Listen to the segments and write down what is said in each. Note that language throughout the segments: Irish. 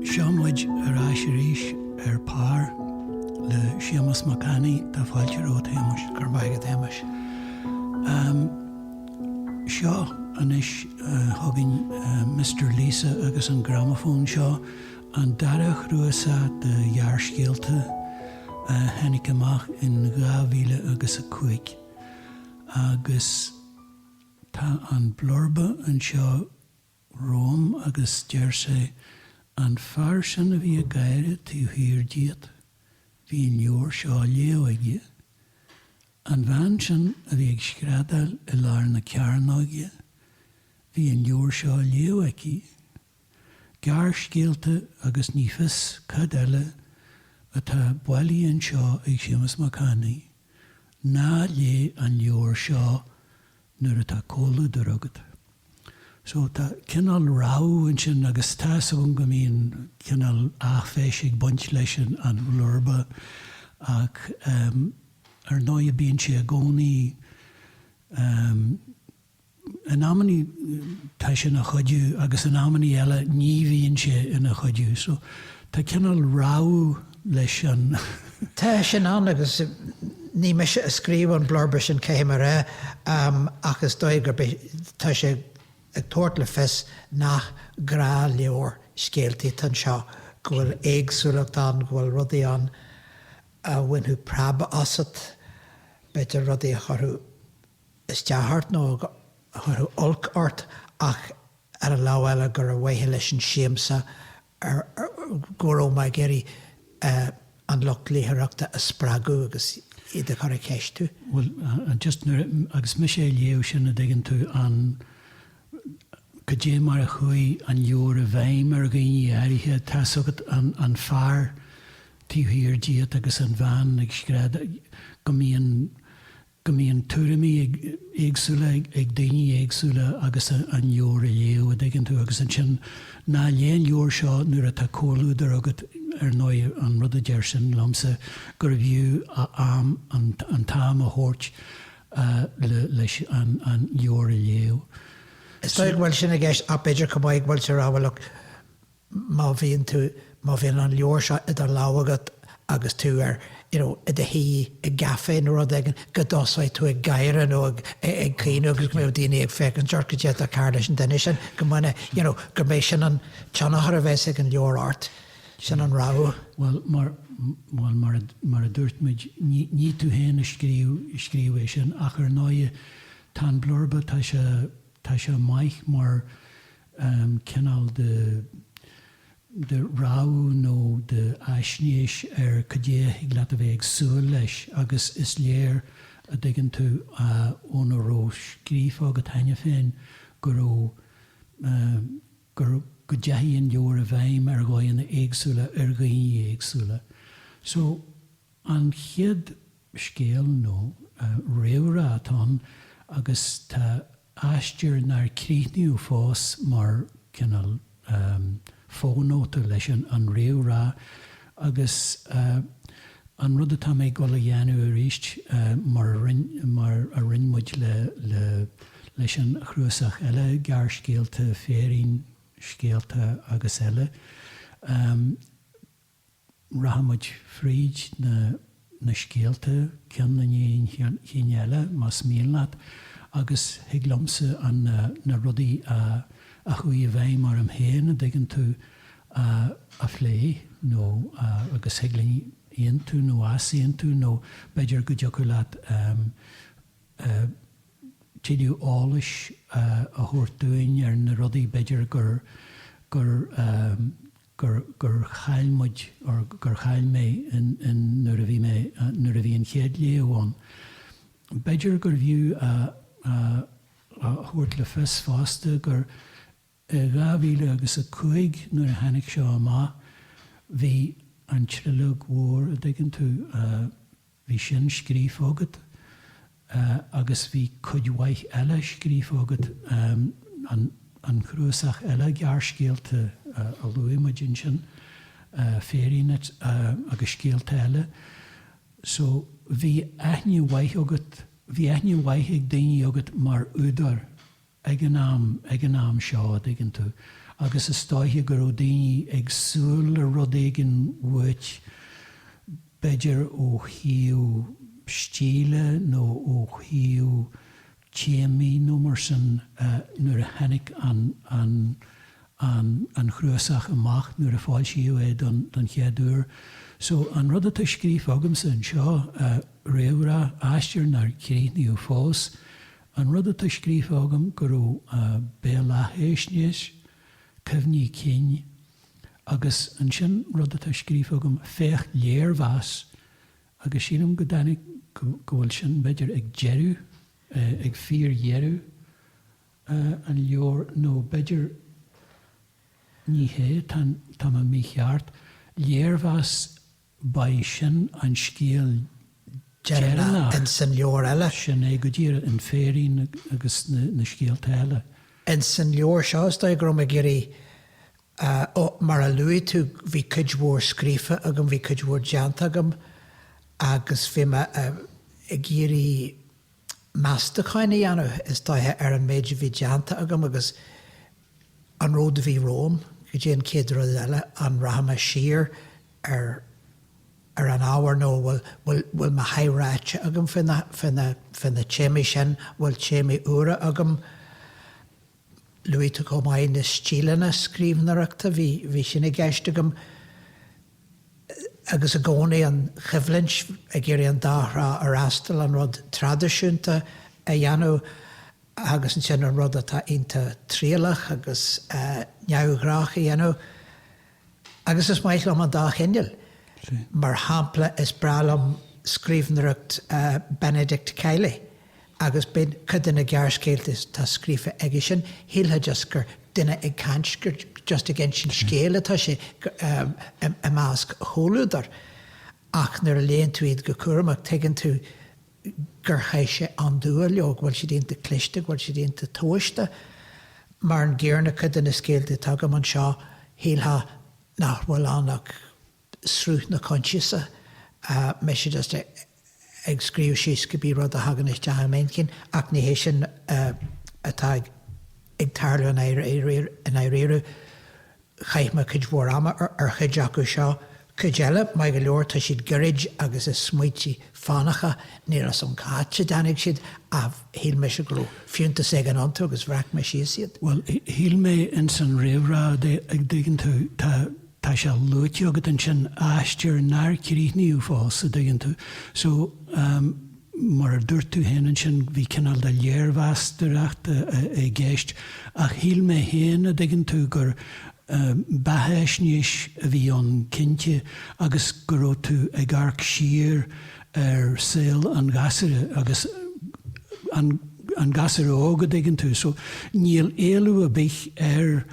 Seo muid ar ais arís ag plé le Séamus Mac Annaidh, tá fáilte romhat a Shéamuis. Go raibh maith agat a Shéamuis. Seo anois chugainn Mister Lisa agus an Gramafón seo An dara cnuasach de ghearrscéalta a tháinig amach in dhá mhíle agus a cúig, agus tá an blurba anseo romham agus deir sé, 'An fear sin a bhí ag gáire taobh thiar díot, bhí an leabhar seo á léamh aige. An bhean sin a bhí ag screadáil i lár na cearnóige, bhí an leabhar seo á léamh aici. gearrscéalta agus ní fios cad eile atá bailithe anseo ag Séamus Mac Annaidh, ná léigh an leabhar seo nuair atá comhluadar agat. So tá cineál rabhadh ansin agus tá 'fhios agam go mbíonn cineál áiféis ag baint leis an bhlurba ach ar ndóigh bíonn sé i gcónaí In amannaí tá sé ina chuidiú agus in amannaí eile ní bhíonn sé ina chuidiú. So tá cineál rabhadh leis an. Tá sin ann agus ní mise a scríobh an blurba sin caithfidh mé a rá ach is dóigh gurb é. Tá sé ag tabhairt le fios nach gnáthleabhar scéalta iad anseo, go bhfuil éagsúlacht ann, go bhfuil rudaí ann a bhainfeadh preab asat, b'fhéidir, rudaí a chuirfeadh. isteach ort nó a chuirfeadh olc ort ach ar an lámh eile gur ar mhaithe leis an siamsa go raibh mé ag iarraidh an lucht léitheoireachta a spreagadh agus iad a chur ag ceistiú. Bhuel, just nuair a, agus mise ag léamh sin, a' dtuigeann tú, an, goidé mar a chuaigh an leabhar i bhfeidhm ar dhaoine áirithe, tá's agat, an fear taobh thiar díot agus an bhean ag screadach, go mbíonn, go mbíonn tuairimí éagsúla ag daoine éagsúla agus an leabhar á léamh, a' dtuigeann tú, agus ansin ná léigh an leabhar seo nuair atá comhluadar agat, ar ndóigh an rud a deir sin liomsa gurbh fhiú an t-am a thabhairt leis an leabhar a léamh. Is dóigh go bhfuil sin i gceist ach b'fhéidir chomh maith go bhfuil sé rábhálach. má bhíonn tú, má bhíonn an leabhar seo idir lámha agat agus tú ar, you know, i do shuí i gcafé nó rud éigin, go dtosóidh tú ag gáire nó ag, ag, ag caoineadh agus go mbeidh daoine ag féachaint ort cad é atá cearr leis an duine sin, go mbainfidh, you know, gurb é sin an tionchar a bheas ag an leabhar ort. Sin an rabhadh. Bhuel, mar, bhuel, mar a, mar a dúirt muid, ní, ní tú féin a scríobh, a scríobh é sin ach ar ndóigh tá an blurba, tá sé, tá sé maith mar, um cineál de de rabhadh nó d'fhaisnéis ar cad é a thig leat a bheith ag súil leis agus is léir a' dtuigeann tú a óna raibh scríofa agat cheana féin go raibh um gur go dteachaigh an leabhar i bhfeidhm ar dhóigheanna éagsúla ar dhaoine éagsúla so An chéad scéal nó réamhrá atá ann agus tá aistear nár críochnaíodh fós mar cineál fo-nóta leis an réamhrá agus an rud atá mé ag dul a dhéanamh arís mar a rinne muid leis an chnuasach eile gearrscéalta Féirín, Scéalta agus eile. rachaidh muid fríd na scéalta ceann i ndiaidh an chinn eile más mian leat agus thig liomsa na rudaí a chuaigh i bhfeidhm orm féin a dtuigeann tú a phlé nó agus thig linn aontú nó easaontú nó b'fhéidir go dtiocfadh leat tuilleadh eolais a thabhairt dúinn ar na rudaí b'fhéidir gur gur, gur chaill muid, or gur chaill mé in, in, nuair a bhí mé, nuair a bhí an chéad léamh ann. B'fhéidir gurbh fhiú a, a, a thabhairt le fios fosta gur i dhá mhíle agus a cúig nuair a tháinig seo amach, bhí an tríológ mhór, a dtuigeann tú, a, Bhí sin scríofa agat agus bhí cuid mhaith eile scríofa agat, an chnuasach eile gearrscéalta a luaigh muid ansin, Féirín agus scéalta eile. So, bhí aithne mhaith agat, bhí aithne mhaith ag daoine agat mar údar. ag an am, ag an am seo, a' dtuigeann tú, agus is dóiche go raibh daoine ag súil le rud éigin uait, b'fhéidir ó thaobh stíle nó ó thaobh téamaí nó mar sin nuair a tháinig an, an, an, an chnuasach amach, nuair a foilsíodh é don, don chéad uair. So, an rud atá scríofa agamsa anseo, réamhrá, aistear nár críochnaíodh fós, An rud atá scríofa agam go raibh beathaisnéis, cuimhní cinn, agus ansin rud atá scríofa agam féach léirmheas, agus sílim go dtáinig, go bhfuil sin b'fhéidir ag deireadh, ag fíordheireadh an leabhair, nó b'fhéidir, ní hea, tá mé mícheart, léirmheas Ba í sin an scéal deireanach ins an leabhar eile. Sin é go díreach, an féirín agus na scéalta eile. Ins an leabhar seo, is dóigh go raibh mé ag iarraidh, mar a luaigh tú, bhí cuid mhór scríofa agam, bhí cuid mhór déanta agam agus bhí mé ag iarraidh meastacháin a dhéanamh, is dóiche, ar an méid a bhí déanta agam agus, An ród a bhí romham go dtí an chéad rud eile, an rachaidh mé siar ar ar an ábhar nó bhfuil bhfuil bhfuil mo sháith ráite agam faoi na faoi na faoi na téamaí sin, bhfuil téamaí úra agam. Luaigh tú chomh maith na stíleanna scríbhneoireachta, bhí bhí sin i gceist agam agus i gcónaí an choimhlint ag iarraidh an dá thrá a fhreastal, an rud traidisiúnta a dhéanamh. agus ansin an rud atá iontach trialach agus neamhghnách a dhéanamh agus is maith liom an dá chineál. Mar shampla, is breá liom scríbhneoireacht Benedict Kiely agus bíonn cuid de na gearrscéalta atá scríofa aige sin, shílfeá just gur duine ag caint, gur just ag insint scéil atá sé i measc comhluadair. Ach nuair a léann tú iad go cúramach tuigeann tú gur chaith sé an-dua leo, go bhfuil siad iontach cliste, go bhfuil siad iontach tomhaiste. Mar an gcéanna, cuid de na scéalta atá agam anseo, shílfeá nach bhfuil ann ach sruth na coinsiasa, mise just ag scríobh síos gibé rud a thagann isteach i m'inchinn, ach ní hé sin atá ag tarlú i ndáiríre. Chaith mé cuid mhór ama ar chuid acu seo, cuid eile, maith go leor, tá siad gairid agus is smaointe fánacha, níl fhios agam cá háit a dtáinig siad, ach shíl mise go raibh fiúntas éigin iontu agus bhreac mé síos iad. Bhuel, shíl mé ins an réamhrá, an dtuigeann tú, tá, tá sé luaite agat ansin, aistear nár críochnaíodh fós, an dtuigeann tú. So, Mar a dúirt tú féin ansin, bhí cineál de léirmheastóireacht i gceist, ach shíl mé féin, a' dtuigeann tú, gur beathaisnéis a bhí ann cinnte agus go raibh tú ag amharc siar ar saol an ghasúra agus an, an gasúr óg, a' dtuigeann tú, so níl éalú a' bith ar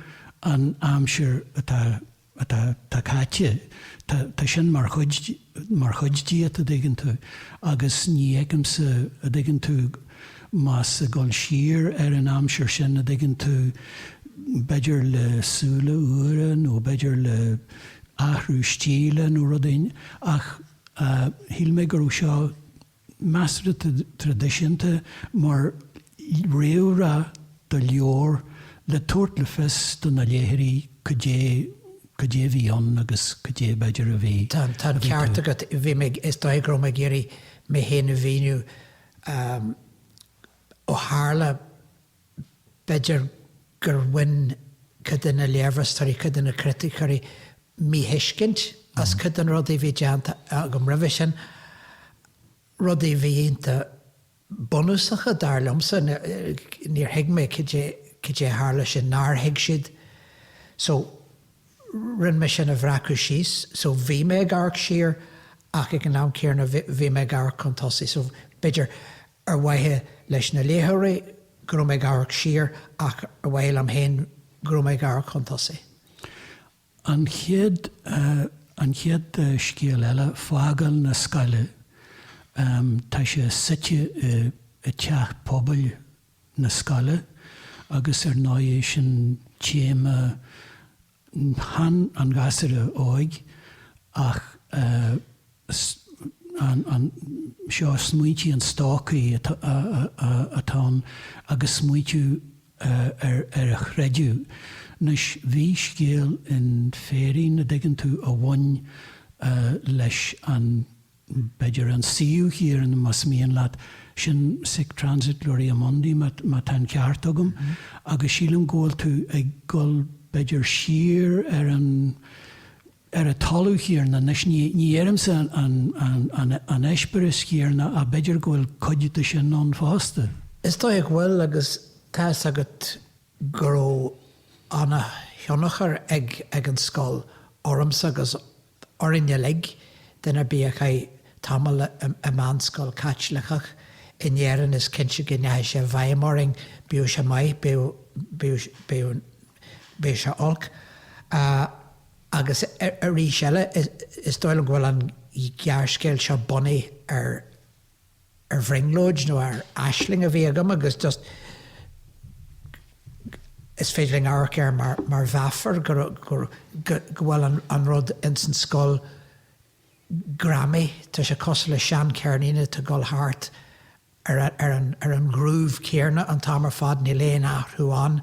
an aimsir atá. Má tá, tá caite. Tá, tá sin mar chuid, mar chuid díot, a' dtuigeann tú, agus ní fheicimse, a' dtuigeann tú, má's ag dul siar ar an aimsir sin, a' dtuigeann tú, b'fhéidir le súile úra nó b'fhéidir le athrú stíle nó rud inteacht ach shíl mé go raibh seo, measartha traidisiúnta mar réamhrá do leabhar le tabhairt le fios do na léitheoirí cad é, cad é a bhí ann agus cad é, b'fhéidir, a bhí. Tá, tá an ceart agat, bhí mé ag, is dóigh go raibh mé ag iarraidh mé féin a mhíniú, ó tharla, b'fhéidir gur bhain cuid de na léirmheastóirí, cuid de na criticeoirí míthuiscint as cuid de na rudaí a bhí déanta agam roimhe sin, rudaí a bhí iontach bunúsach, dar liomsa. Níor thuig mé cad é, cad é a tharla sin nár thuig siad. So, rinne mé sin a bhreacadh síos. So, bhí mé ag amharc siar ach ag an am céanna bhí mé ag amharc chun tosaigh. So, b'fhéidir, ar mhaithe leis na léitheoirí go raibh mé ag amharc siar ach ar mhaithe liom féin go raibh mé ag amharc chun tosaigh. An chéad, an chéad scéal eile, fágáil na scoile, tá sé suite i teach pobail na scoile agus ar ndóigh sin téama chan an gasúr óg ach anseo smaointí an stócaigh atá ann agus é ag smaointiú ar a chreideamh. Anois, bhí scéal in Féirín, a dtuigeann tú, a bhain leis an. B'fhéidir an suíomh chéanna, más mian leat, sin Sic Transit Gloria Mundi, má tá an ceart agam, agus sílim go bhfuil tú ag dul, b'fhéidir, siar ar an, ar an talamh chéanna. Anois, ní dhéarfainnse an eispéireas chéanna, ach b'fhéidir go bhfuil cuid de sin ann fosta. Is dóigh go bhfuil, agus tá's agat go raibh an-thionchar ag an scoil ormsa agus orainn uilig, duine ar bith a chaith tamall i meánscoil Chaitliceach in Éirinn is cinnte go ndeachaigh sé i bhfeidhm orainn, bíodh sé maith, bíodh sé olc. Agus arís eile, is dóigh liom go bhfuil an gearrscéal seo bunaithe ar. ar bhrionglóid nó ar aisling a bhí agam agus just is féidir linn amharc air mar mar mheafar go go bhfuil an an rud ins an scoil greamaithe, tá sé cosúil le sean ceirnín atá ag dul thart ar ar an ar an ghrúbh céarna an t-am ar fad níl aon athrú ann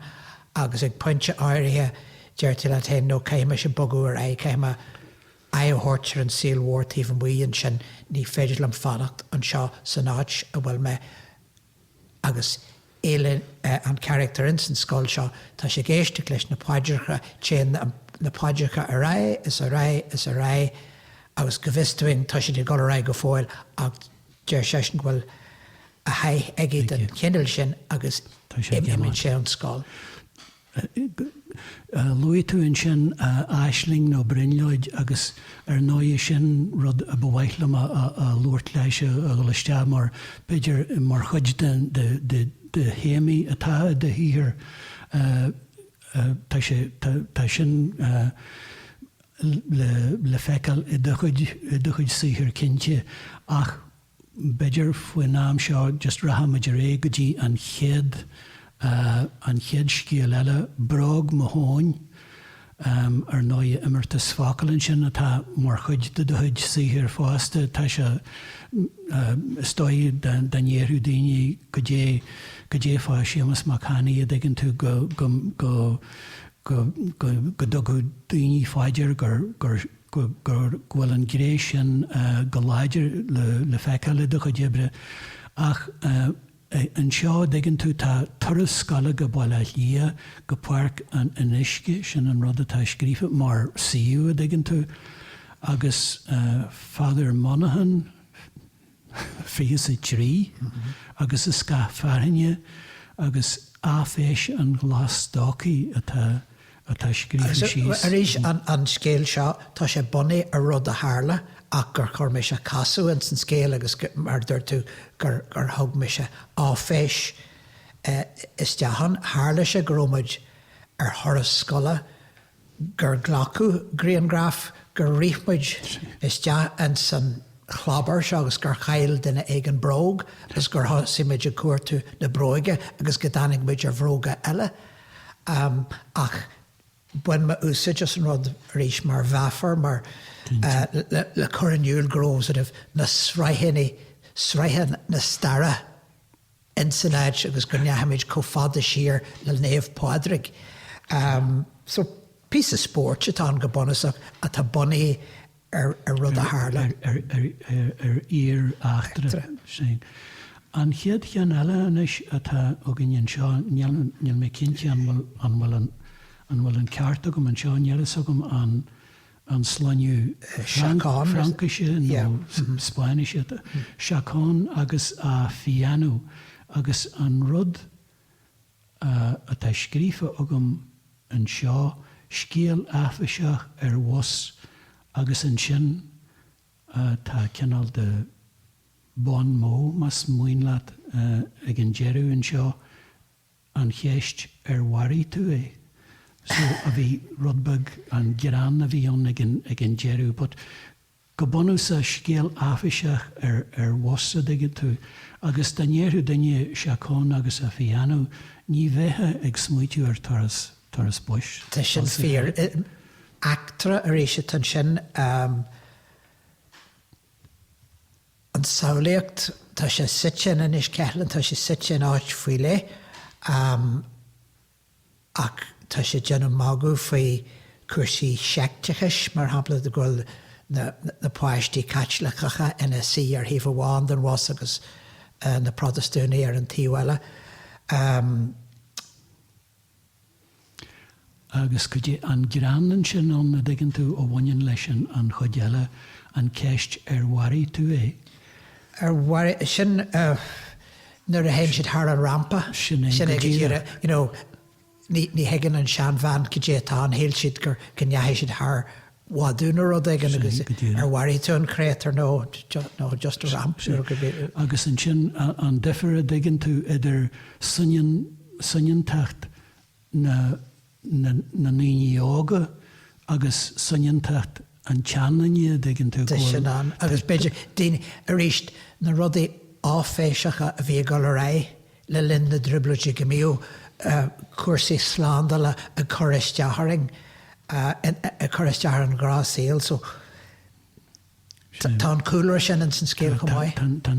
agus ag pointe áirithe deir tú leat féin no caithfidh mise bogadh ar aghaidh caithfidh mé Aghaidh a thabhairt ar an saol mhór taobh amuigh ansin, ní féidir liom fanacht anseo san áit a bhfuil mé. Agus eh an carachtar ins an scoil seo, tá sé ag éisteacht leis na paidreacha, téann na paidreacha ar aghaidh is ar aghaidh is ar aghaidh agus go bhfios dúinn tá siad ag dul ar aghaidh go fóill ach deir seisean go bhfuil a sháith aige den chineál sin agus imíonn sé ón scoil. Luaigh tú ansin Aisling nó Brionglóid agus ar ndóigh sin rud a ba mhaith liom labhairt leis a dhul isteach mar b'fhéidir mar chuid de théamaí atá i do shaothar tá sé tá sin le feiceáil i do chuid saothar cinnte ach b'fhéidir, faoin am seo, just rachaimid ar aghaidh go dtí an chéad, an chéad scéal eile, bróg mo thóin, ar ndóigh, imeartas focal ansin atá mar chuid de do chuid saothair fosta, tá sé, is dóigh, go ndéarfadh daoine, goidé, goidé fá Séamus Mac Annaidh, a' dtuigeann tú, go, go, go, go, go, go dtugadh daoine faoi dear gur, gur, go bhfuil an ghné sin go láidir le feiceáil i do chuid oibre. Ach anseo, an dtuigeann tú, tá turas scoile go Baile Átha Cliath, go Páirc an Fhionnuisce, sin an rud atá scríofa mar suíomh, an dtuigeann tú, agus Father Monaghan, fiche is a trí, agus scáth fearthainne agus áiféis an ghlas-stócaigh atá atá scríofa síos. Arís, an scéal seo, tá sé bunaithe ar rud a tharla ach gur chuir mise casadh ins an scéal agus mar a dúirt tú, gur gur thug mise áiféis isteach ann. Tharla sé go raibh muid ar thuras scoile gur glacadh grianghraif, gur rith muid isteach ins an chlábar seo agus gur chaill duine éigin bróg agus gur thosaigh muid ag cuartú na bróige agus go dtáinig muid ar bhróga eile. Ach bhain mé úsáid as an rud arís mar mheafar, mar le cur in iúl go raibh sort of na sraitheanna, sraitheanna staire, in san áit agus go ndeachaigh muid chomh fada siar le Naomh Pádraig. So, píosa spóirt atá ann go bunúsach atá bunaithe ar rud a tharla. ar fhíor-eachtra. Sin an chéad cheann eile anois atá againn anseo. Níl mé cinnte an bhfuil an bhfuil an ceart agam anseo, níl a fhios agam an an sloinneadh Fraincise nó Spáinnise Chacón agus a phianó agus an rud atá scríofa agam anseo, scéal áiféiseach ar bhus agus ansin tá cineál de bon mot, más mian leat, ag an deireadh anseo. an cheist ar mharaigh tú é? So a bhí rud beag an greann a bhí ann ag an ag an deireadh but go bunúsach scéal áiféiseach ar ar bhus a' dtuigeann tú agus dá ndéarfadh duine Chacón agus a phianó ní bheithfeá ag smaoitiú ar turas turas bus. Tá sin fíor. Eachtra arís atá ansin. An tsamhlaíocht, tá sé suite in Inis Ceithleann, tá sé suite in áit faoi leith, ach tá sé ag déanamh magadh faoi chúrsaí seicteachais, mar shampla, go bhfuil na páistí Caitliceacha ina suí ar thaobh amháin den bhus agus na Protastúnaigh ar an taobh eile. Agus go dtí an greann sin ann, a' dtuigeann tú, a bhaineann leis an, an chuid eile, an ceist ar mharaigh tú é? Ar mharaigh, sin nuair a théann siad thar an rampa, sin é go díreach, you know, ní, ní thuigeann an seanbhean cad é atá ann, shíl siad gur, go ndeachaigh siad thar mhadadh nó rud éigin agus ar mharaigh tú an créatur nó just a ramp nó rud éigin. Agus ansin an difir a' dtuigeann tú idir soineantacht na ndaoiní óga agus soineantacht an tseanduine a' dtuigeann tú. Tá sin ann agus b'fhéidir daoine, aríst, na rudaí áiféiseacha a bhí ag dhul ar aghaidh le linn na dTrioblóidí go mbíodh cúrsaí slándála ag cur isteach orainn, ag cur isteach ar an ghnáthshaol. So tá an cúlra sin ins an scéal chomh maith. Tá,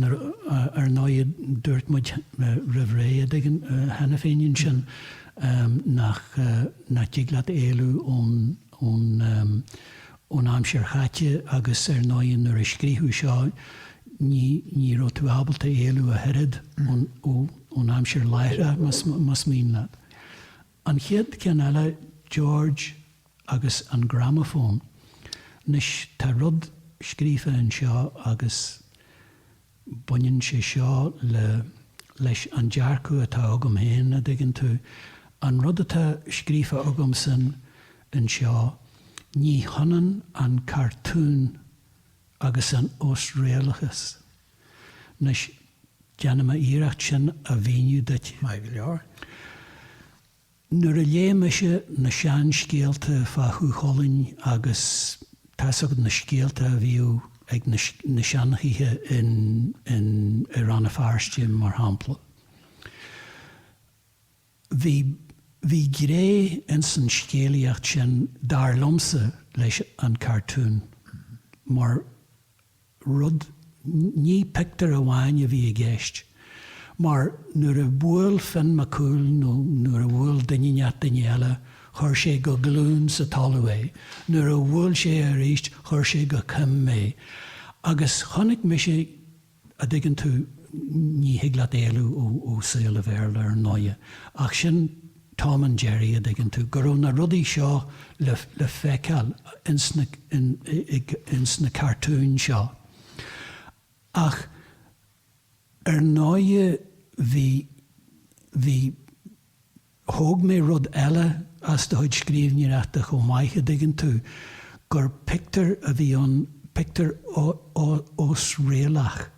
ar ndóigh, dúirt muid roimh ré, a dtuigeann, cheana féin ansin nach dtig leat éalú ón, ón aimsir chaite agus ar ndóigh nuair a scríobhadh seo ní ní raibh tú ábalta éalú a hoiread ón ó ón aimsir láithreach más más mian leat. An chéad ceann eile George agus an gramafón. Anois tá rud scríofa anseo agus Baineann sé seo le, leis an dearcadh atá agam féin, a' dtuigeann tú. An rud atá scríofa agam ansin, anseo, ní hionann an cartún agus an osréalachas. Anois, déanfaidh mé iarracht sin a mhíniú duit. Maith go leor. Nuair a léigh mise na seanscéalta fá Chú Chulainn agus tá's agat na scéalta a bhíodh ag na, na seanchaithe in, in, i Rinn na Feirste mar shampla, bhí, bhí gré ins an scéalaíocht sin, dar liomsa, leis an chartún mar rud, ní pictiúr amháin a bhí i gceist, mar nuair a bhuail Fionn Mac Cumhaill nó nuair a bhuail duine inteacht duine eile, chuir sé go glúin sa talamh é, nuair a bhuail sé arís, chuir sé go coim é. Agus chonaic mise, a' dtuigeann tú, ní thig leat éalú ó shaol an Bhéarla ar ndóighe, ach sin Tom and Jerry, a' dtuigeann tú, go raibh na rudaí seo le, le feiceáil ins na, in, i, ins na cartúin seo. Ach ar ndóighe bhí, bhí, thóg mé rud eile as do chuid scríbhneoireachta chomh maith, a' dtuigeann tú, gur pictiúr a bhí ann, pictiúr o, o, osréalach.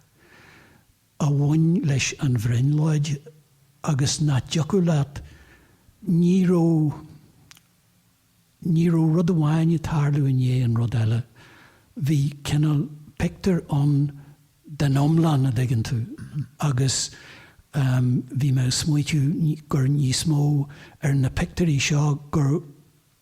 a bhain leis an bhrionglóid agus nach dtiocfadh leat, ní raibh, ní raibh rud amháin ag tarlú i ndiaidh an rud eile, bhí cineál pictiúr ann den iomlán, a' dtuigeann tú, agus bhí mé a' smaoitiú gur níos mó ar na pictiúirí seo gur.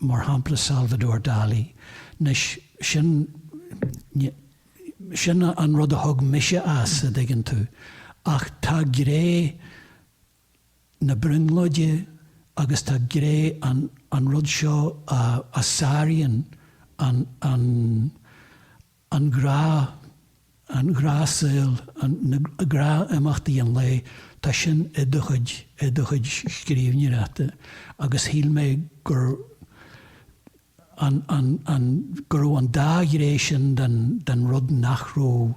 mar shampla Salvador Dali, anois, sin, sin an rud a thug mise as, a' dtuigeann tú, ach tá gré na brionglóide agus tá gré an, an rud seo a, a sháraíonn an, an. an gnáth, an gnáthshaol, na gnáthimeachtaí an lae, tá sin i do chuid, i do chuid scríbhneoireachta agus shíl mé gur, an, an, an, go raibh an dá ghré sin den, den rud nach raibh,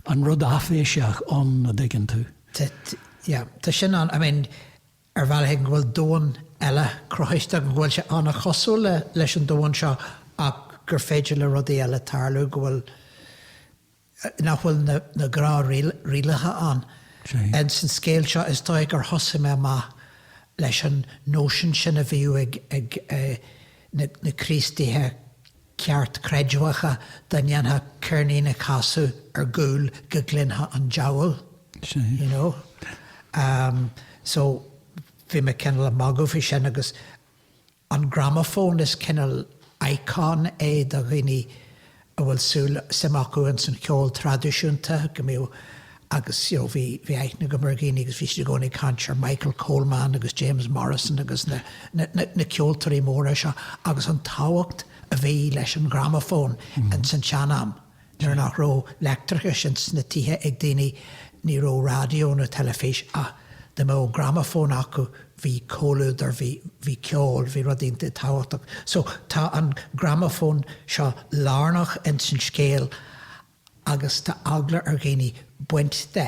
an rud áiféiseach ann, a' dtuigeann tú. Tá, yeah, tá sin ann, I mean, Ar bhealach éigin go bhfuil domhan eile cruthaithe, go bhfuil sé an-chosúil leis an domhan seo ach gur féidir le rudaí eile tarlú, go bhfuil, nach bhfuil na gnáth-rialacha ann. San scéal seo, is dóigh gur thosaigh mé amach leis an nóisean sin a bhíodh ag na Críostaithe, ceartchreidmheacha dá ndéanfá ceirnín a chasadh ar gcúl go gcluinfeá an diabhal, you know. So, bhí mé cineál ag magadh faoi sin agus an gramafón is cineál icon é do dhaoine a bhfuil súil, suim acu ins an cheol traidisiúnta, go mbíodh Agus you know bhí, bhí aithne agam ar dhaoine agus bhí siad i gcónaí ag caint ar Michael Coleman agus James Morrison agus na, na, na, na ceoltóirí móra seo agus an tábhacht a bhí leis an ghramafón in san tseanam nuair nach raibh leictreachas in sna tithe ag daoine, ní raibh raidió ná teilifís ach dá mbeadh gramafón acu bhí comhluadar, bhí, bhí ceol, bhí rudaí iontach tábhachtach. So tá an gramafón seo lárnach in san scéal. Agus tá eagla ar dhaoine baint de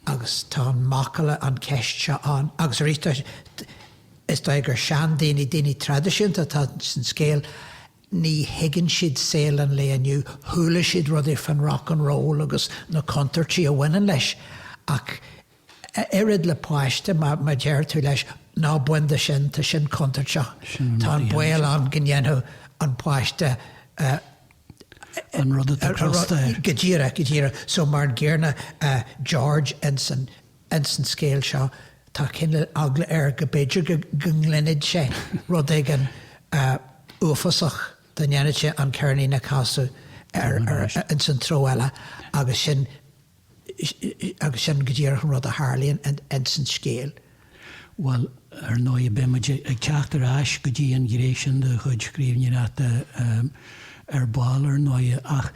agus tá an macalla, an cheist seo ann. Agus arís, tá, is dóigh gur seandaoine, daoine traidisiúnta atá san scéal, ní thuigeann siad saol an lae inniu. Chuala siad rudaí fán rock and roll agus na contúirtí a bhaineann leis ach oiread le páiste má deir tú leis 'ná bain de sin, tá sin contúirteach', tá an baol ann go ndéanfadh an páiste an rud atá crosta air. Go díreach, go díreach. So mar an gcéanna George ins an scéal seo, tá cineál eagla air go mb'fhéidir go ngcluinfidh sé rud éigin uafásach dá ndéanfadh sé an ceirnín a chasadh ins an treo eile agus sin, Agus sin go díreach an rud a tharlaíonn ins an scéal. Bhuel, ar ndóigh, beidh muid ag teacht ar ais go dtí an ghné sin de do chuid scríbhneoireachta ar ball, ar ndóigh, ach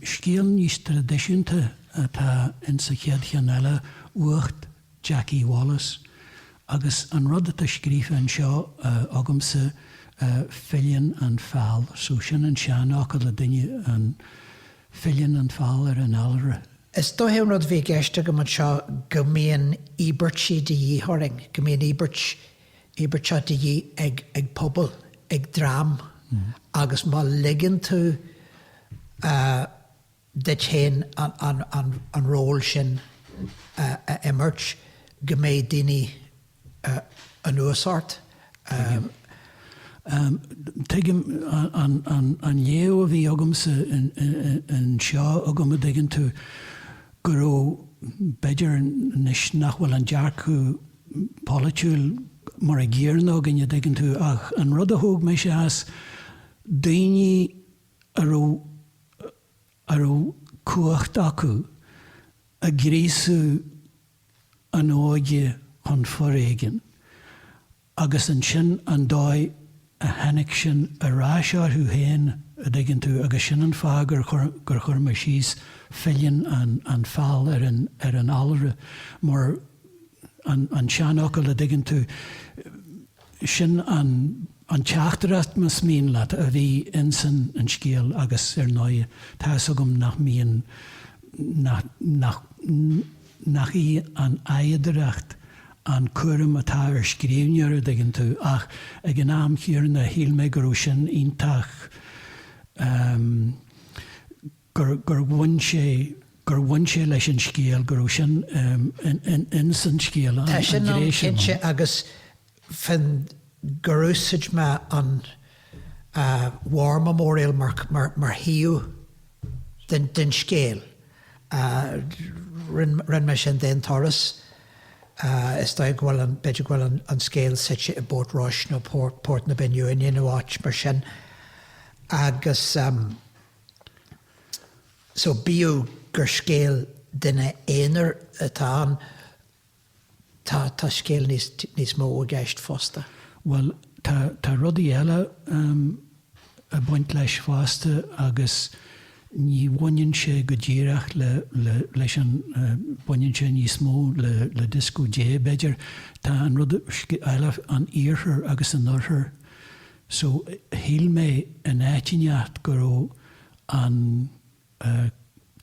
scéal níos traidisiúnta atá insa chéad cheann eile, Uacht Jackie Wallace, agus an rud atá scríofa anseo agamsa, filleann an feall. So sin an seanfhocal le duine filleann an feall ar an fheallaire. Is dóiche an rud a bhí i gceist agam anseo go mbíonn íobairtí de dhíth orainn, go mbíonn íobairt, íobairt seo de dhíth ag, ag pobal, ag dream, agus má ligeann tú, eh, duit féin an ról sin a imirt, go mbeidh daoine anuas ort. Tuigim. Tuigim an léamh a bhí agamsa anseo agam, a dtuigeann tú, go raibh, b'fhéidir anois nach bhfuil an dearcadh polaitiúil mar an gcéanna againn, a dtuigeann tú, ach an rud a thóg mise as, daoine, a raibh a raibh cumhacht acu ag gríosú an óige chun foréigin agus ansin an dóigh a tháinig sin ar ais orthu féin a' dtuigeann tú agus sin an fáth gur chur gur chur mé síos filleann an an feall ar an ar an fheallaire mar an an seanfhocal a' dtuigeann tú Sin an an teachtaireacht, más mian leat, a bhí ins an an scéal agus ar ndóigh tá fhios agam nach mbíonn, nach, nach, nach í an oideachtaireacht an cúram atá ar scríbhneoir, a' dtuigeann tú, ach ag an am chéanna shíl mé go raibh sin iontach, eh, gur, gur bhain sé, gur bhain sé leis an scéal, go raibh sin in san scéal, an, an ghné sin ann. Tá sin ann, cinnte, agus fiú gur úsáid mé an war memorial mar, mar, mar shuíomh den, don scéal, rinn, rinne mé sin d'aon turas, is dóigh go bhfuil an, b'fhéidir go bhfuil an, an scéal suite i bPort Rois nó Port, Port na Binne Uaine nó áit mar sin agus, So bíodh gur scéal duine aonair atá ann, tá tá scéal níos níos mó i gceist fosta. Bhuel tá tá rudaí eile ag baint leis fosta agus ní bhaineann sé go díreach le le leis an baineann sé níos mó le le Disco Dé b'fhéidir. Tá an rud eile an t-iarthar agus an t-oirthear. So, shíl mé in áit inteacht go raibh an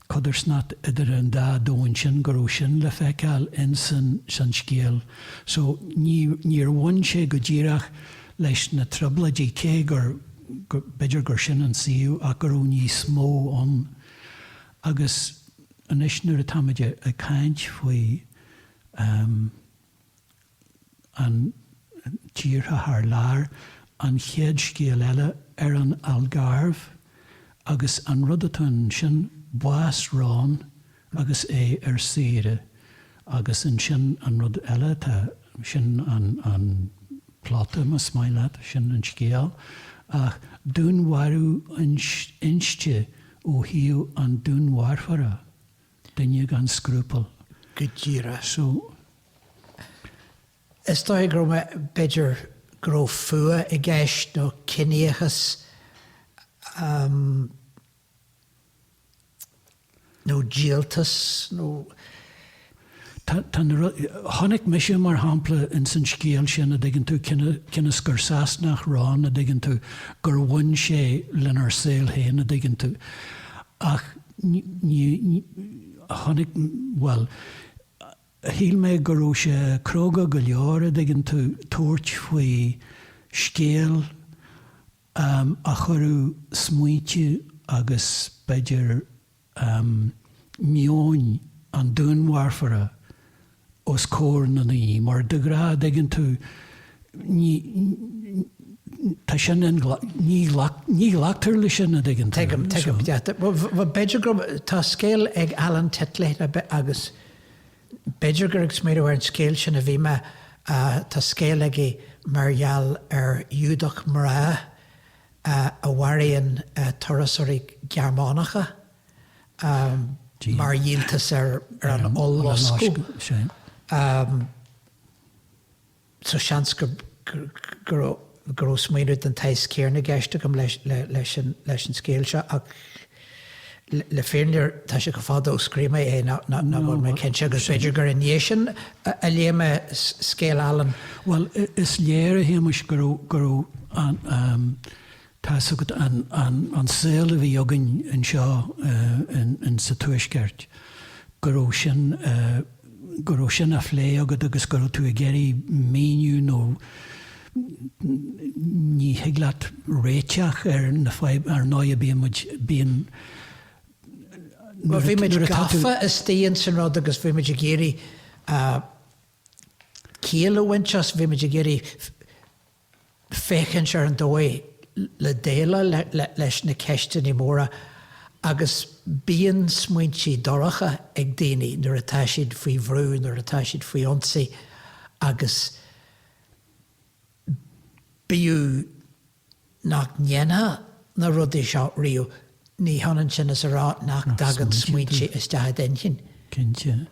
chodarsnacht idir an dá domhan sin, go raibh sin le feiceáil ins san scéal. So, ní, níor bhain sé go díreach leis na Trioblóidí, cé gur, b'fhéidir gur sin an suíomh, ach go raibh níos mó ann. Agus anois nuair atáimid ag caint faoi, an tíortha thar lear, an chéad scéal eile ar an Algarve, agus an rud atá ansin, bás Ron agus é ar saoire, agus ansin an rud eile atá, sin an, an plota, más mian leat, sin an scéal, ach dúnmharú inste ó thaobh an dúnmharfóra. Duine gan scrupall. Go díreach. So, is dóigh go raibh mé, b'fhéidir go raibh fuath i gceist nó ciníochas nó díoltas nó. Tá na rudaí, chonaic mise mar shampla ins an scéal sin a' dtuigeann tú, cionn is gur Sasanach Rón a' dtuigeann tú, gur bhain sé lenár saol féin a' dtuigeann tú. Ach chonaic, bhuel, shíl mé go raibh sé cróga go leor, a' dtuigeann tú, tabhairt faoi scéal a chuirfeadh smaointe agus b'fhéidir meon an dúnmharfóra os comhair na ndaoine, mar de ghnáth, dtuigeann tú, ní, tá sin in, ní, ní ghlactar leis sin, a dtuigeann tú. Tuigim, tuigim, bhuel, b'fhéidir go, tá scéal ag Alan Titley leis agus b'fhéidir gur ag smaoineamh ar an scéal sin a bhí mé, tá scéal aige mar gheall ar Ghiúdach mná a mharaíonn turasóirí Gearmánacha. mar dhíoltas ar an oll-loscadh. So seans go raibh smaoineamh den tsaghas céanna i gceist agam leis an scéal seo, ach le fírinne tá sé chomh fada ó scríobh mé é nach bhfuil mé cinnte, agus b'fhéidir gur i ndiaidh sin a léigh mé scéal Alan. Bhuel, is léir a Shéamais go raibh Tá's agat an saol a bhí againn anseo insa Tuaisceart, go raibh sin, go raibh sin á phlé agat agus go raibh tú ag iarraidh míniú nó ní thig leat réiteach ar an fhadhb, ar ndóigh bíonn muid, bíonn, nuair atá tú. Bhí muid gafa istigh in san rud agus bhí muid ag iarraidh ciall a bhaint as, bhí muid ag iarraidh, féachaint ar an dóigh le déileáil leis na ceisteanna móra agus bíonn smaointe dorcha ag daoine nuair atá siad faoi bhrú, nuair atá siad faoi ionsaí agus bíodh nach ndéanfá na rudaí seo riamh, Ní hionann sin is a rá nach dtagann smaointe isteach id inchinn. Cinnte.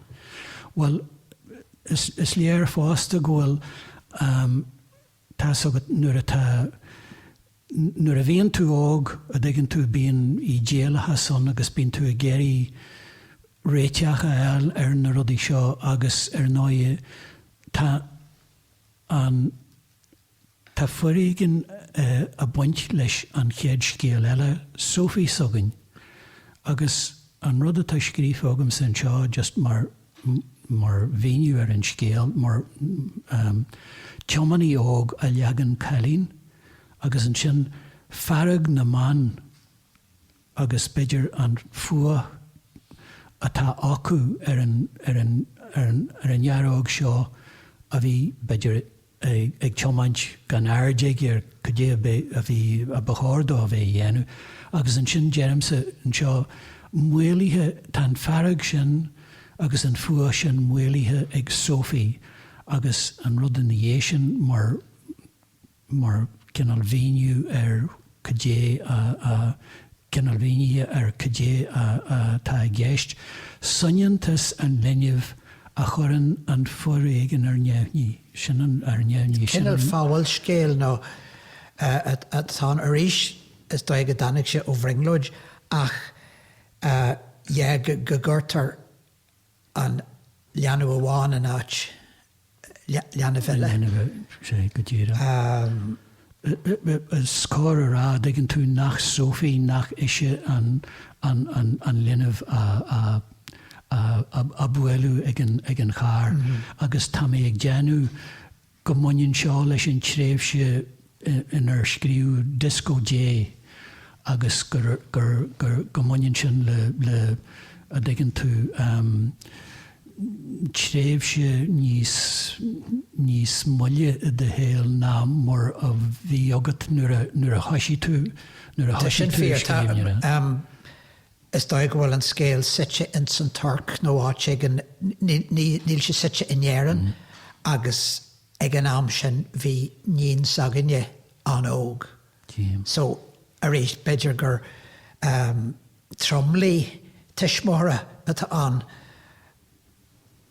Bhuel, is léir fosta go bhfuil, tá's agat nuair atá, nuair a bhíonn tú óg, a' dtuigeann tú, bíonn ídéalachas ann agus bíonn tú ag iarraidh réiteach a fháil ar na rudaí seo agus ar ndóigh tá an, Tá foréigean ag baint leis an chéad scéal eile, Sophie s'againn, agus an rud atá scríofa agamsa anseo just mar, mar mhíniú ar an scéal, mar tiománaí óg a leagann cailín agus ansin fearg na mban, agus b'fhéidir an fuath atá acu ar an fhear óg seo a bhí, b'fhéidir, ag tiomáint gan aird aige ar cad é a bhí, a ba chóir dó a bheith a dhéanamh. Agus ansin deirimse anseo, maolaithe, tá an fearg sin agus an fuath sin maolaithe ag Sophie agus an rud ina dhiaidh sin mar, mar cineál mhíniú ar cad é cineál mhíniú ar cad é atá i gceist, soineantas an linbh a chuireann an foréigean ar neamhní, sin an, ar neamhní, sin an. Cineál fabhalscéal nó atá ann, arís is dóigh go dtáinig sé ó bhrionglóid ach go gcuirtear an leanbh amháin in áit leanbh eile. Leanbh a, sea, go díreach. Is cóir a rá, dtuigeann tú, nach Sophie, nach ise an leanbh a buaileadh ag an charr agus tá mé ag déanamh, go mbaineann seo leis an tréimhse inar scríobhadh Disco Dé agus gur, go mbaineann sin le, a' dtuigeann tú, tréimhse níos moille i do shaol ná mar a bhí agat nuair a thoisigh tú, nuair a thoisigh tú a scríobh. Is dóigh go bhfuil an scéal suite ins an Tuirc nó áit éigin, níl sé suite in Éirinn agus ag an am sin bhí níon s'againne an-óg so arís b'fhéidir gur tromluí tuismitheora atá ann.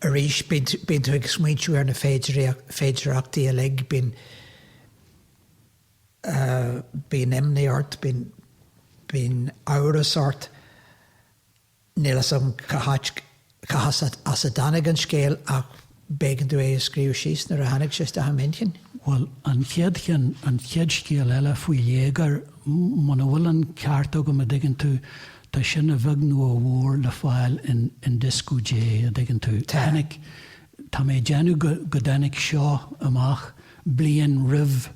Arís bíonn tú ag smaointiú ar na féidireachtaí uilig, bíonn. Bíonn imní ort, bíonn amhras ort. Níl 'fhios a'm cá has as a dtáinig an scéal ach b'éigean domh é a scríobh síos nuair a tháinig sé isteach i m'intinn. Bhuel, an chéad cheann, an chéad scéal eile faoi léigear, muna bhfuil an ceart agam, a' dtuigeann tú, tá sin a bheag nó a mhór le fáil in Disco Dé, a' dtuigeann tú. Tá. Tháinig, Tá mé ag déanamh go dtáinig seo amach bliain roimh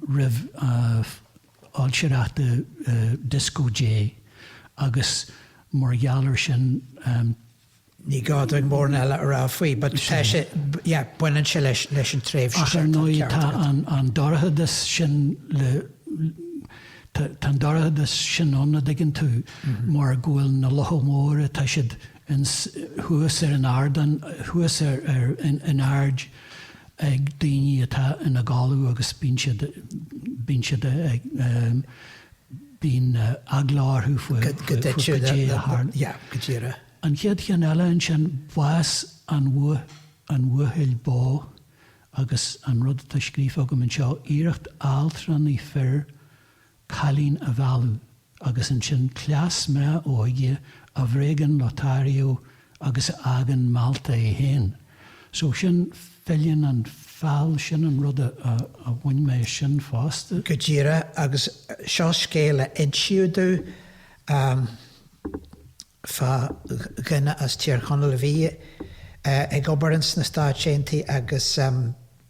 roimh fhoilsitheoireacht Dioscó Dé agus mar gheall ar sin, ní gá dúinn mórán eile a rá faoi but tá sé yeah baineann sé leis leis an tréimhse seo, ach ar ndóigh tá an an dorchadas sin le tá an dorchadas sin ann an dtuigeann tú mar go bhfuil na locha móra tá siad ins thuas ar an ardán, thuas ar in aird ag daoine atá ina gcodladh agus bíonn siad, bíonn siad ag, bíonn eagla orthu faoi go dtitfidh go dtitfidh. Yeah, go díreach. An chéad cheann eile ansin, bás an bhuaidh, an bhuachaill bó, agus an rud atá scríofa agam anseo, iarracht altranaí fir cailín a mhealladh agus ansin cleas mná óige a bhréagann an Lothario agus a fhágann meallta é féin. So sin, filleann an feall, sin an rud a bhain mé as sin fosta. Go díreach, agus seo scéal a insíodh domh fá dtaobh de dhuine as Tír Chonaill a bhí ag obair ins na Stáit Aontaithe agus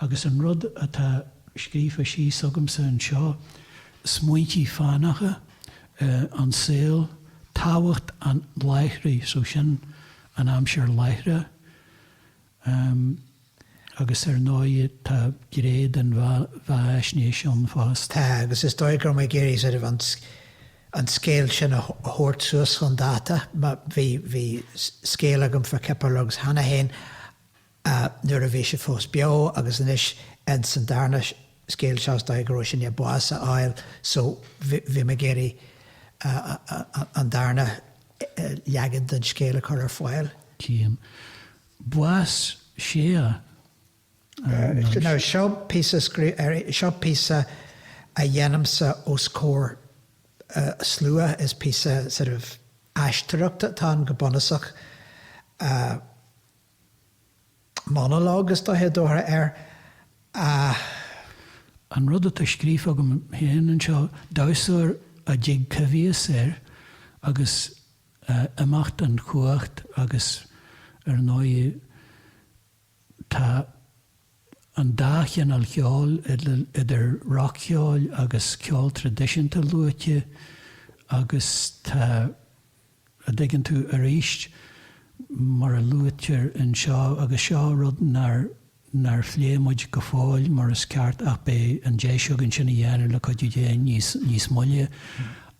Agus an rud atá scríofa síos agamsa anseo, smaointí fánacha, an saol, tábhacht an láithrigh, so sin an aimsir láithreach. Agus ar ndóigh tá gré den bheathfhaisnéis ann fosta. Tá, agus is dóigh go raibh mé ag iarraidh sort of an scéal sin a thabhairt suas chun dáta, bhí scéal agam fá Kipper Lugs cheana féin, a nuair a bhí sé fós beo agus anois ins an darna scéal seo is dóigh go raibh sé i ndiaidh bás a fháil so bhí mé ag iarraidh an darna leagan den scéal a chur ar fáil. Tchím. Bás sea. Now seo píosa seo píosa a dhéanaimse os comhair slua is píosa sort of aisteoireachta atá ann go bunúsach. Monologue is dóigh a dtabharfá air, ach. An rud atá scríofa agam féin anseo, damhsóir a dtig coimhthíos air agus imeacht an chumhacht agus ar ndóigh tá an dá chineál ceoil idir roc-cheoil agus ceol traidisiúnta luaite agus tá an dtuigeann tú, aríst, mar a luaitear anseo, agus seo rud nár, nár phléigh muid go fóill mar is ceart ach beidh an deis againn sin a dhéanamh le cuidiú Dé níos, níos moille,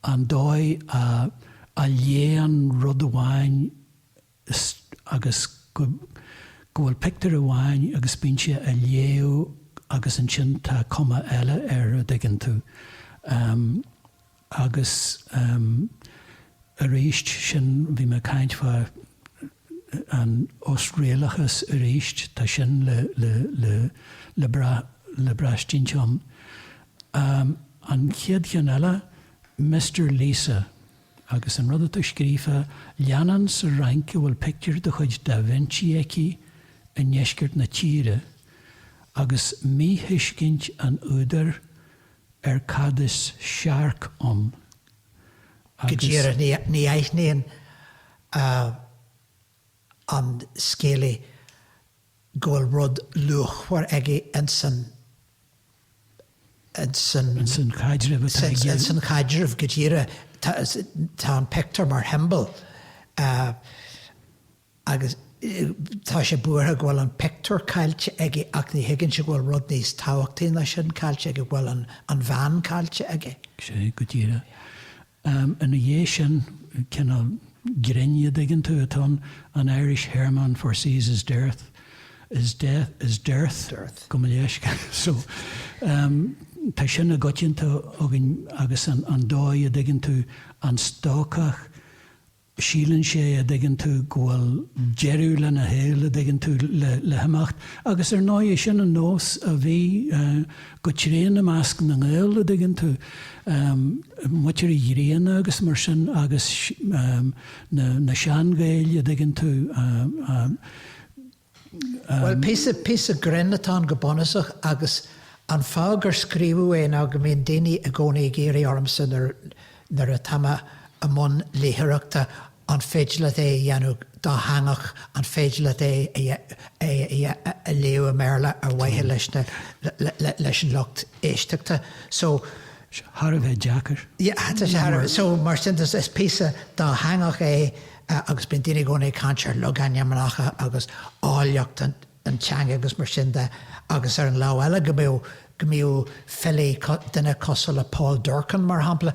an dóigh a, a léann rud amháin, Is agus go, go bhfuil pictiúr amháin agus bíonn sé á léamh agus ansin tá cuma eile air an dtuigeann tú. Ehm agus ehm aríst sin bhí mé ag caint fá an osréalachas aríst tá sin le, le, le, le brath, le braistint ann. Ehm an chéad cheann eile Mister Lisa. Agus an rud atá scríofa, leannán sa Fhrainc a bhfuil pictiúr de chuid da Vinci aici i ndeisceart na tíre, agus míthuiscint an údair ar cad is searc ann. Agus go díreach, ní aithníonn a. an scéalaí go bhfuil rud luachmhar aige in san, in san. in san chaidreamh atá aige. in san chaidreamh go díreach. Tá, tá an pictiúr mar shiombail agus tá sé buartha go bhfuil an pictiúr caillte aige ach ní thuigeann sé go bhfuil rud níos tábhachtaí ná sin caillte aige, go bhfuil an, an bhean caillte aige. Is é, go díreach. Ámh, ina dhiaidh sin, cineál grinn an dtuigeann tú atá ann, an Irish Airman foresees his dearth, his death, his dearth, Dearth. gabh mo leithscéal. So, ámh, tá sin i gcoitianta againn agus an dóigh an dtuigeann tú an stócach, Síleann sé, an dtuigeann tú, go bhfuil deireadh lena shaol, an dtuigeann tú, le himeacht. Agus ar ndóigh, sin an nós a bhí go tréan i measc na nGael, an dtuigeann tú, muintir Uí Ghrianna agus mar sin, agus na sean-Ghaeil, an dtuigeann tú. Bhuel, píosa, píosa grinn atá ann go bunúsach agus an fáth gur scríobhadh é ná go mbíonn daoine i gcónaí ag iarraidh ormsa nuair, nuair atá mé i mbun léitheoireachta, an féidir leat é a dhéanamh dátheangach, an féidir leat é a, é a, a léamh i mBéarla ar mhaithe leis na, leis an lucht éisteachta. So. Thar a bheith deacair. Yeah, tá sé thar a bheith, so mar sin is píosa dátheangach é. agus bíonn daoine i gcónaí ag caint ar logainmneacha agus áilleacht an teanga agus mar sin de agus ar an lámh eile go mbíodh, go mbíodh filí, duine cosúil le Paul Durcan mar shampla,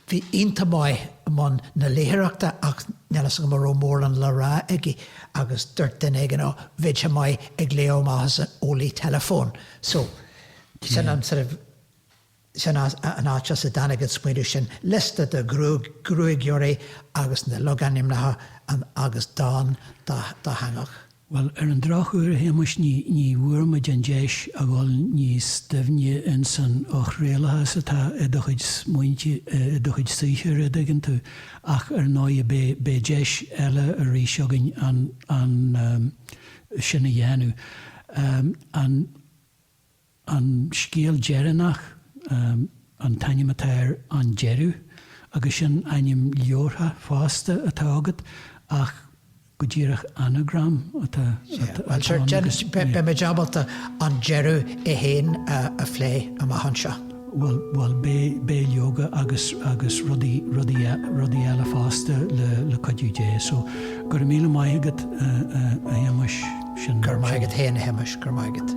bhí iontach maith i mbun na léitheoireachta ach níl fhios agam a' raibh mórán le rá aige agus dúirt duine éigin oh bheadh sé maith ag léamh amach as an eolaí teileafóin so sin an sort of Sin an áit as a dtáinig an smaoineamh sin, liosta de gruaigeoirí agus na logainmneacha agus dán dátheangach. Bhuel, ar an drochuair, a Shéamais, ní bhfuair muid an deis a dhul níos doimhne ins an ochraíolachas atá i do chuid smaointe, i do chuid saothair, a' dtuigeann tú, ach ar ndóighe beidh deis eile arís againn an, an, sin a dhéanamh. An. An Scéal Deireanach an t-ainm atá ar An Deireadh, agus sin ainm leabhair fosta atá agat, ach go díreach anagram atá ann agus. Sure, beimid ábalta An Deireadh é féin a phlé amach anseo. Bhuel, bhuel, beidh, leoga, agus, agus rudaí, rudaí, rudaí eile fosta le cuidiú Dé, so, go raibh míle maith agat a Shéamais, sin. Go raibh maith agat féin a Shéamais, go raibh maith agat.